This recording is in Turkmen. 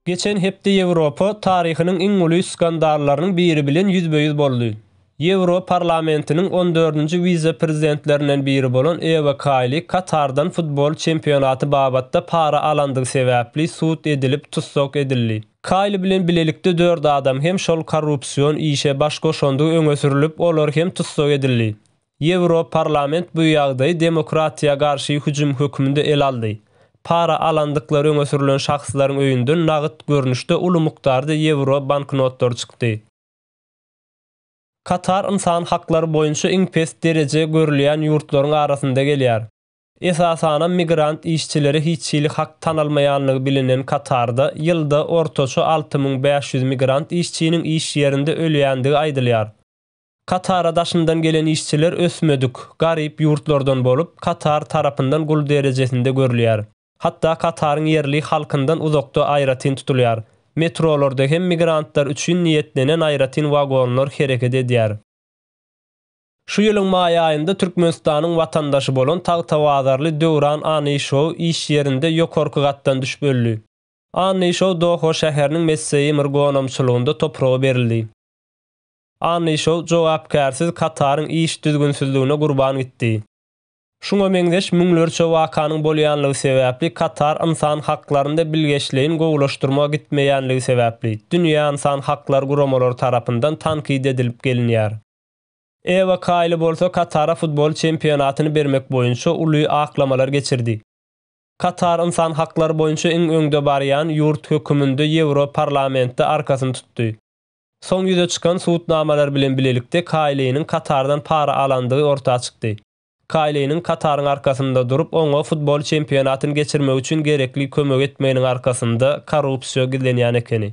Geçen hepde Ýewropa taryhynyň iň uly skandallarynyň biri bilen ýüzbe-ýüz boldy. Ýewro parlamentiniň on dördünji wise-prezidentlerinden biri bolan Ewa Kaýli Katardan futbol çempionaty babatda para alandygy sebäpli sud edilip tussag edildi. Kaýli bilen bilelikde dört adam hem şol korrupsion işe baş goşandygy öňe sürülip, olar hem tussag edildi. Ýewroparlament bu ýagdaýy demokratiýa garşy hüjüm hökmünde ele aldy. Para alandyklary öňe sürlen şahslaryň öýünden nagt görnüşde uly mukdarda ýewro banknotlary çykdy. Katar ynsan haklary boýunça iň pes dereje görülýän ýurtlaryň arasynda gelýär. Esasanam migrant işçilere hiç hili hak tanalmaýanlygy bilinen Katarda ýylda ortaça alty müň bäş ýüz migrant işçiniň iş ýerinde ölýändigi aýdylýar. Katara daşyndan gelen işçiler ösmedik, garyp ýurtlardan bolup, Katar tarapyndan gul derejesinde görülýär. Hatda Kataryň ýerli halkyndan uzakda aýratyn tutulýar. Metrolarda hem migrantlar üçin niýetlenen aýratyn wagonlar hereket edýär. Şu ýylyň maý aýynda Türkmenistanyň watandaşy bolan tagtabazarly Döwran Anyşow iş ýerinde ýokarky gatdan düşüp öldi. Anyşow Doha şäheriniň Messeýmir gonamçylygynda topraga berildi. Anni şol jogapkärsiz Kataryň iş düzgünsizligine gurban gitdi. Şuňa meňzeş müňlerçe wakanyň bolýanlygy sebäpli Katar ynsan haklarynda bilgeşleýin gowulaşdyrma gitmeýänligi sebäpli, dünýä ynsan haklar guramalary tarapyndan tankyt edilip gelinýär. Ewa Kaýli bolsa Katara futbol çempionatyny bermek boýunça uly aklamalar geçirdi. Katar ynsan haklary boýunça iň öňde barýan ýurt höküminde Ýewro parlamentde arkasyny tutdy. Soň ýüze çykan sud namalar bilen bilelikde Kaýliniň Katardan para alandygy orta çykdy. Kaýliniň Kataryň arkasynda durup, oňa futbol çempionatyny geçirmek üçin gerekli kömegi etmeginiň arkasynda korrupsiýa gizlenýän ekeni.